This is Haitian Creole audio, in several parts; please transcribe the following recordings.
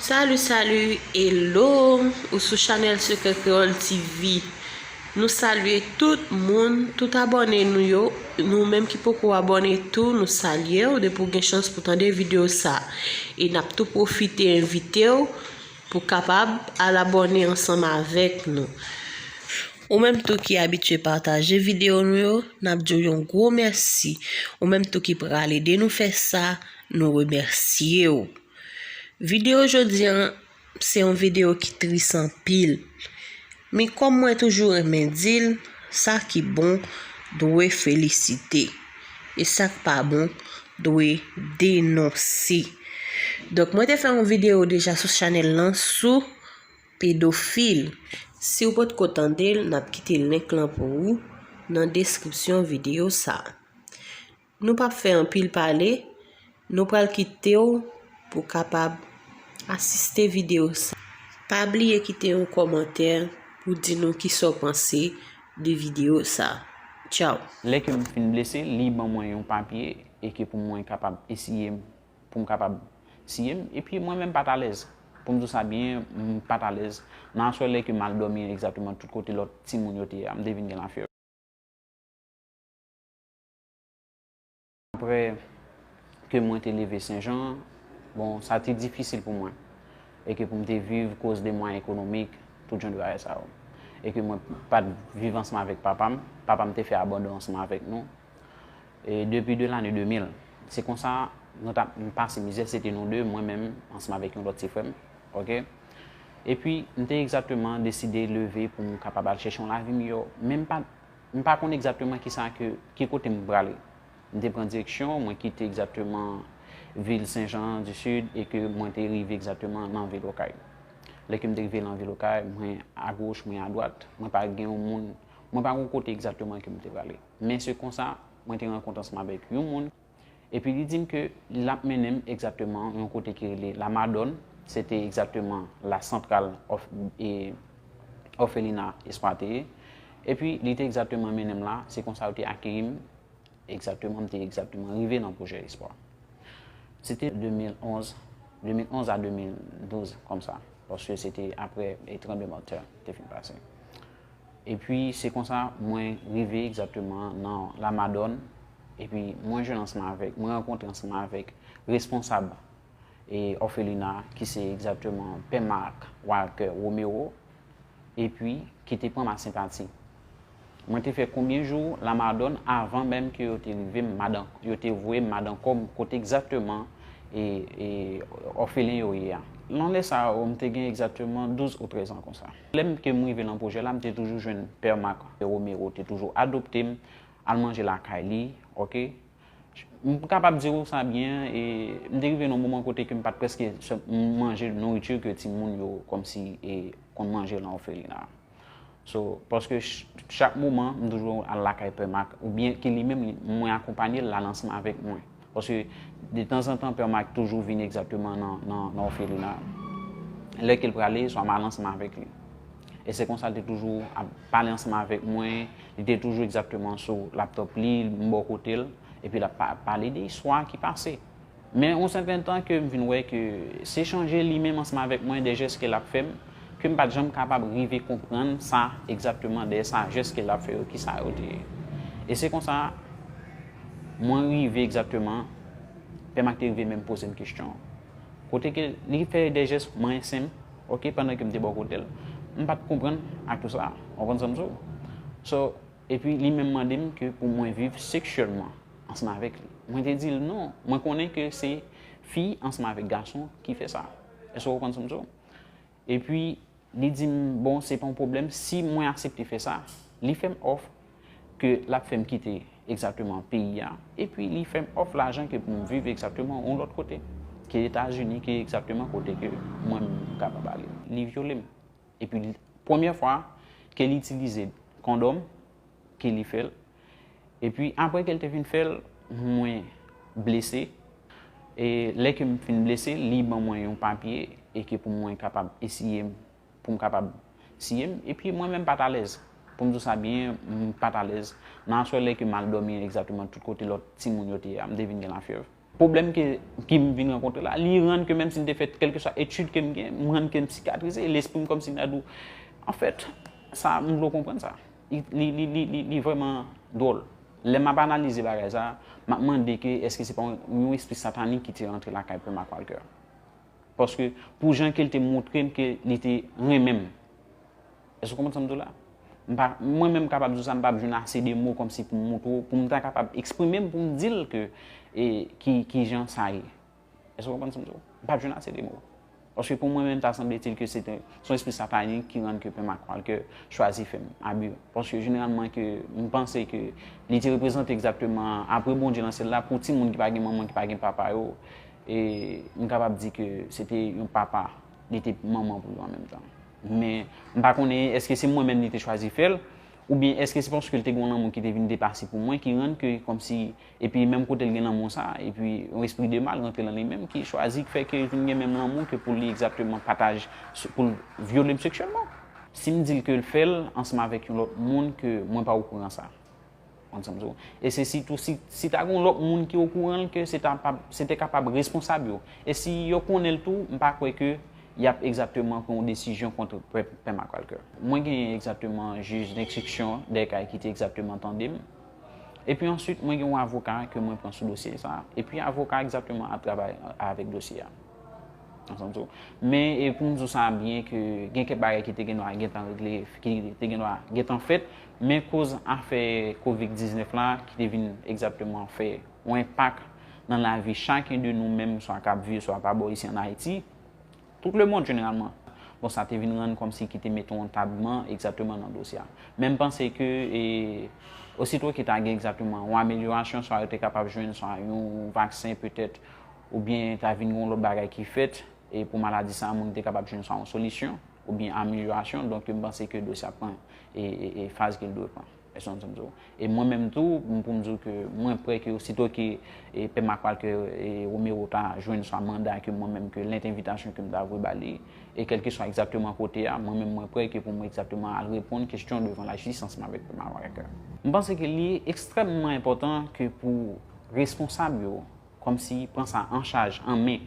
Salut salut hello ou sou chanel sekrè kreyol TV nou salye tout moun tout abòne nou yo nou menm ki poko abòne tou nou salyew depi ou gen chans pou tande video sa e nap tou pwofite envitew pou kapab al abòne ansanm avèk nou ou menm tou ki abitye pataje video nou yo nap diw yon gwo mèsi ou menm tou ki pral ede nou fè sa nou remèsyew. Video jodi an se yon video ki tris anpil Men kòm mwen toujou renmen di l sa ki bon dwe felisite e sa k pa bon dwe denonse Donk mwen te fè yon video deja sou chanèl lan sou pedofil Si w potko tande l n ap kite link lan pou ou nan deskripsyon video sa. Nou pap fè anpil pale, nou pral kite w pou w kapab asiste videyo sa. Pa bliye kite yon kòmantè pou w di nou kisa w panse de videyo sa. Tchaw! Lè ke m fin blese, li ban mwen yon papye e ke pou mwen kapab esiye m, pou m kapab siye m, epi mwen menm pa t alèz. Pou m di w sa byen, m pa t alèz. Nan aswè lè ke m al dòmi egzakteman tout kote lòt timoun yo te ye a, m te vin gen lafyèv. Aprè ke mwen te leve Sen Jan, bon, sa te difisil pou mwen. E ke pou m te viv koz de mwayen ekonomik, tout jan de bagay sa yo. E ke mwen pa t viv ansanm avèk papa m. Papa m te fè abandon ansanm avèk nou. E depi de lane 2000, se konsa nou t ap pase mizè. Se te nou de, mwen menm ansanm avèk yon lòt ti frè m. Ok. E pi, m te egzakteman deside leve pou m kapab al chèche yon lavi miyò. Men m pa t. M pa konn egzakteman ki sa ke, ki kote m prale. M te pran direksyon, mwen kite egzakteman vil Sen Jan di Sid e ke mwen te rive egzakteman lan vil Okay. Lè ke m te rive lan vil Okay, mwen a goch, mwen a dwat, mwen pa gen yon moun, mwen pa konn kote egzakteman ke m te prale. Men se konsa, mwen te rankont ansanm avèk yon moun. Epi li di m ke l ap mennen m egzakteman yon kote ki rele La Madòn, se te egzakteman la santral òfelina Espwa te ye. Epi li te egzakteman mennen m la, se konsa yo te akeyi m, egzakteman m te egzakteman rive nan Pwojè Espwa. Se te 2011, 2011 a 2012 kòmsa, paske se te apre tranblemanntè te fin pase. Epi se konsa mwen rive egzakteman nan La Madòn, epi mwen jwenn ansanm avèk, mwen rankontre ansanm avèk responsab e òfelina a ki se egzakteman Pè Marc Walker Romero, epi ki te pran ma senpati. Mwen te fè konbyen jou La Madòn avan menm ke yo te rive m Madan, yo te voye m Madankòm kote egzakteman e òfelen yo ye a. Nan lè sa yo m te gen egzakteman douz ou trèzan konsa. Lè m te rive nan pwojè la, m te toujou jwenn Pè Mak, Pè Romero te toujou adopte m, al manje lakay li, ok. M kapab di ou sa byen, e m te rive nan yon moman kote ke m pa t prèske manje nouriti ke timoun yo kòmsi e konn manje nan òfelina a. So, paske chak moman, m toujou al lakay Pè Mak, oubyen ke li menm, mwen akonpanye l, l al ansanm avèk mwen. Paske de tanzantan pè Mike toujou vini egzakteman nan òfelina an. Lè ke l prale, swa m al ansanm avèk li. E se konsa l te toujou ap pale ansanm avèk mwen, li te toujou egzakteman sou laptòp li, m bò kote l, epi l ap pale de istwa ki pase. Men yon sèten tan ke m vin wè ke se chanje li menm ansanm avèk mwen, de jès ke l ap fè m, ke m pa t janm kapab rive konprann sa egzakteman dèyè sa jès ke l ap fè yo kisa yo te ye. E se konsa. Mwen rive egzakteman, pèm ak te rive menm pozem kestyon an. Kote ke li fè de jès mrensen m, ok, pandan ke m te bò kote l. M pat konprann ak tout sa, ou konprann sa m di w? So, epi li menm mande m ke pou mwen viv seksyèlman ansanm avèk li. Mwen te di l non, mwen konnen ke se fi ansanm avèk gason ki fè sa. Èske ou konprann sa m di w? Epi, li di m, bon, se pa yon pwoblèm si mwen aksepte fè sa. Li fè m òf ke l ap fè m kite egzakteman peyi a, epi li fè m òf lajan ke pou m viv egzakteman yon lòt kote ke Etazini, ke egzakteman kote ke mwen m kapab ale. Li vyole m. Epi, premyè fwa ke li itilize kondòm, ke li fè l, Epi apre ke l te fin fè l, mwen blese. E lè ke m fin blese, li ban mwen yon papye e ke pou mwen kapab esiye m, pou m kapab siye m. Epi mwen menm m pa t alèz. Pou m di w sa byen, m pa t alèz. Nan aswè lè ke m al dòmi egzakteman tout kote lòt timoun yo te ye a, m te vin gen lafyèv. Pwoblèm ke ke m vin rankontre la, li rann ke menm si m te fè kèlkeswa etid ke m gen, m rann ke m sikatrize, lespri m kòmsi m ta di w, anfèt, sa, m vle w konprann sa. Li, li, li, li, li, li vrèman dwòl. Lè m ap analize bagay sa, m ap mande ke èske se pa yon, yon espri satanik ki te rantre lakay Pè Mak Walkè. Paske, pou jan ke l te montre m ke li te renmen m. Èske ou konprann sa m di w la? M pa, mwen menm kapab di w sa, m pap jwenn ase de mo kòmsi pou m montre w, pou m ta kapab eksprime m pou m di l ke e ki kijan sa ye. Èske ou konprann sa m di w? M pap jwenn ase de mo. Paske pou mwen menm ta sanbletil ke se te, se yon espri satanik ki rann ke Pè Makwalkè chwazi fè m abi. Paske jeneralman ke m panse ke li te reprezante egzakteman apre Bondye nan syèl la pou timoun ki pa gen manman, ki pa gen papa yo, e m kapab di ke se te yon papa, li te manman pou yo an menm tan. Men, m pa konnen èske se mwen menm li te chwazi fè l, oubyen èske se paske l te gen yon lanmou ki te vin depase pou mwen ki rann ke kòmsi, epi menm kote l gen lanmou sa, epi yon espri de mal rantre lan li menm ki chwazi k fè ke l vin gen menm lanmou ke pou li egzakteman pataj, pou l vyole m seksyèlman. Si m di l ke l fè l ansanm avèk yon lòt moun ke mwen pa okouran sa. E se sitou si ta gen yon lòt moun ki okouran l ke se te kapab responsab yo. E si yo konnen l tou, m pa kwè ke y ap egzatteman pran yon desizyon kont Pè McWalker. Mwen gen egzatteman jij denstriksyon dè kay ki te egzatteman tande m. E pi answit mwen gen yon avoka ke mwen pran sou dosye sa. E pi avoka a egzatteman ap travay avèk dosye a. Men e pou m di w sa byen ke gen kèk bagay ki te gen dwa gentan regle, ki te gen dwa gentan fèt. Men koz afè Kovic 19 la ki te vin egzatteman fè yon enpak nan lavi chaken de nou menm swa kap viv swa pa bò isi an Ayiti, tout lemond jeneralman. Bon sa te vin rann kòmsi ki te mete yon tabman egzatteman nan dosye a. Men m panse ke e osito ki ta gen egzatteman yon amelyorasyon swa yo te kapab jwenn swa yon vaksen petèt oubyen ta vin gen yon lòt bagay ki fèt e pou maladi sa moun te kapab jwenn swa yon solisyon oubyen amelyorasyon donk m panse ke dosye a pran e faz ke l dwe pran. Èske w konprann sa m di w? E mwen menm tou, pou m di w ke mwen prè ke osito ke Pè Makwal, ke Romero ta jwenn swa manda ke mwen menm, ke lèt envitasyon ke m ta voye ba li, e kèlkeswa egzakteman kote a, mwen menm mwen prè ke pou mwen egzakteman al reponn kesyon devan lajistis ansanm avèk Pè Makwal. M panse ke li ekstrèmman enpòtan ke pou responsab yo kòmsi pran sa an chaj, an men.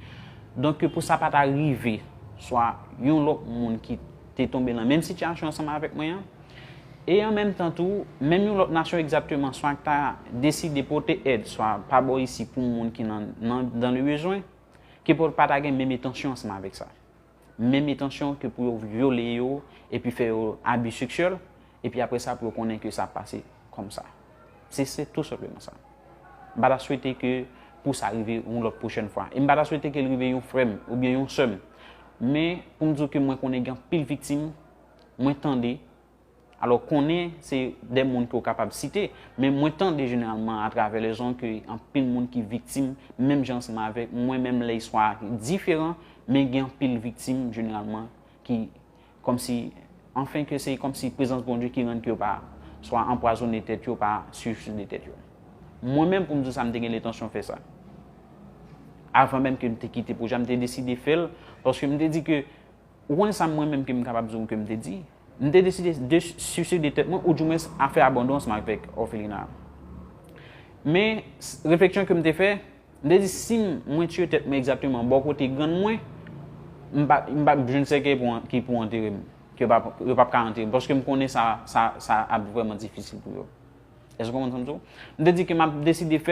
Donk ke pou sa pa ta rive, swa yon lòt moun ki te tonbe nan menm sitiyasyon ansanm avèk mwen an, e an menm tan tou, menm yon lòt nasyon egzakteman swa k ta deside pote èd swa pa bò isi pou moun ki nan nan le bezwen, ke pou l pa ta gen menm etansyon ansanm avèk sa. menm etansyon ke pou yo vyole yo epi fè yo abi seksyèl, epi apre sa pou yo konnen ke sa ap pase kòm sa. Se se tou senpleman sa. M pa ta swete ke pou sa rive yon lòt pwochèn fwa. E m pa ta swete ke l rive yon frè m oubyen yon sè m. Men, pou m di w ke mwen konnen gen anpil viktim, mwen tande, Alò konnen se de moun ke w kapab site, men mwen tande jeneralman a travè le zon ke anpil moun ki viktim menm jan ansanm avèk mwen menm lè istwa a diferan men gen anpil viktim jeneralman ki kòm si anfen ke se kòm si prezans Bondye ki rann ke yo pa swa anpwazone tèt yo pa siyiside tèt yo. Mwen menm pou m di w sa m te gen lentansyon fè sa. Avan menm ke m te kite pwojè a m te deside fè l paske m te di ke ou konnen sa mwen menm ke m kapab di w ke m te di? M te deside de suicide de tèt mwen ou dumwens a fè abandon ansanm avèk òfelina a. Men, refleksyon ke m te fè, m te di si mwen tiye tèt mwen egzakteman bò kote grann mwen, m pa m pa p jwenn sèkèy pou ki pou antere m, ke yo pa p yo pa p ka antere m paske m konnen sa sa sa ap vrèman difisil pou yo. Èske w konprann sa m di w? M te di ke m ap deside fè l.